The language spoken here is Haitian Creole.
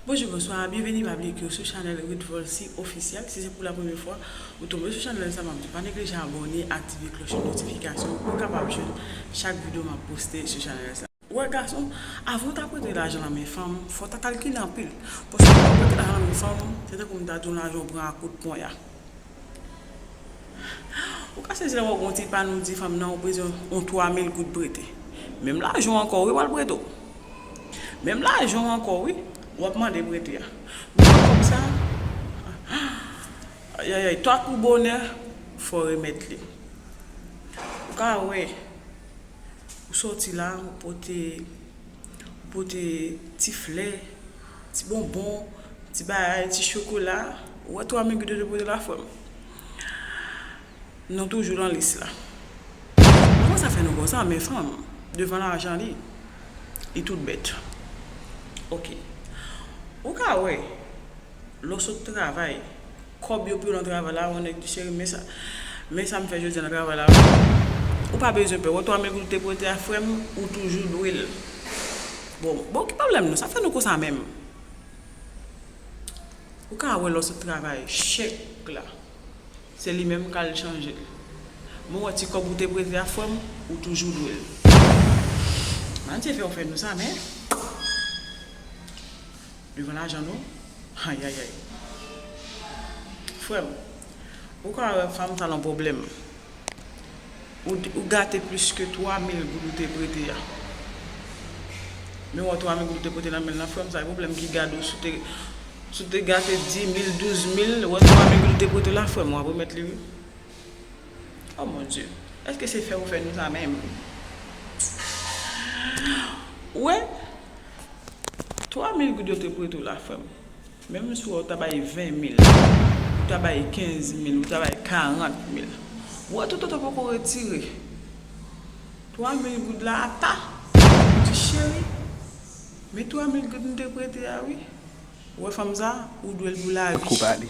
Bonjou bonswa byenveni pa bliye ke ou sou chanèl Ruth Volcy officiel si se pou la premye fwa ou tonbe sou chanèl sa map diw pa neglije abòne aktive klòche notifikasyon pou ou kapab jwenn chak video map poste sou chanèl sa. Ou wè gason, avan ou ta prete lajan nan men fanm, fò ta kalkile anpil. Paske lè ou prete lajan nan men fanm, se tankou m ta di w lajan ou pran a kout ponya. Ou ka sezi lè wè gon ti pann ou di fanm nan ou bezwen yon 3 mil goud prete. Menm lajan w ankò wi wal prete w. Menm lajan w ankò wi wap mande prete a. Ou wè kòb sa ayayay tankou bonè fò remèt li. Ou ka wè ou soti la ou pote ti flè Ti bonbon, ti bagay, ti chokola. Ou wè tou amigo de depo de la fwem. Nou toujou lan lis la. Kòman sa fè nou konsa men fanm devan lajan li li tout bèt. Ok. Ou ka wè lè w sot travay. Kob yo piu nan travay la one gdi cheri men sa men sam fè jodi nan travay la wi ou pa bezwen pè wè 3000 goud ou te prete a frèm ou toujou dwel bon bon ki problèm nou sa fè nou konsa menm ou ka wè lò sot travay chèk la se li menm kal chanjel mwen wè ti kob ou te prete a frèm ou toujou dwel Bndye fè ou fè nou sa men. Devan lajan non ayayay. Frèm ou ka wè fanm sa nan pwoblèm ou gate plis ke 3 mil goud ou te prete a men wè 3 mil goud ou te prete nan menl lan frèm sa gen pwoblèm ki gade ou si ou te gate 10 mil 12 mil wè 3 mil goud ou te prete la frèm wap remèt li wi oh mon Dye eske se fè ou fè nou sa menm ou wè. 3 mil goud yo te prete w la frè m menm si w ta bay 20 mil ou ta bay 15 mil ou ta bay 40 mil ou wè toto te poko retire 3 mil goud la apa li di cheri men 3 mil goud m te prete a wi ou wè fanm sa ou dwe l pou lavi.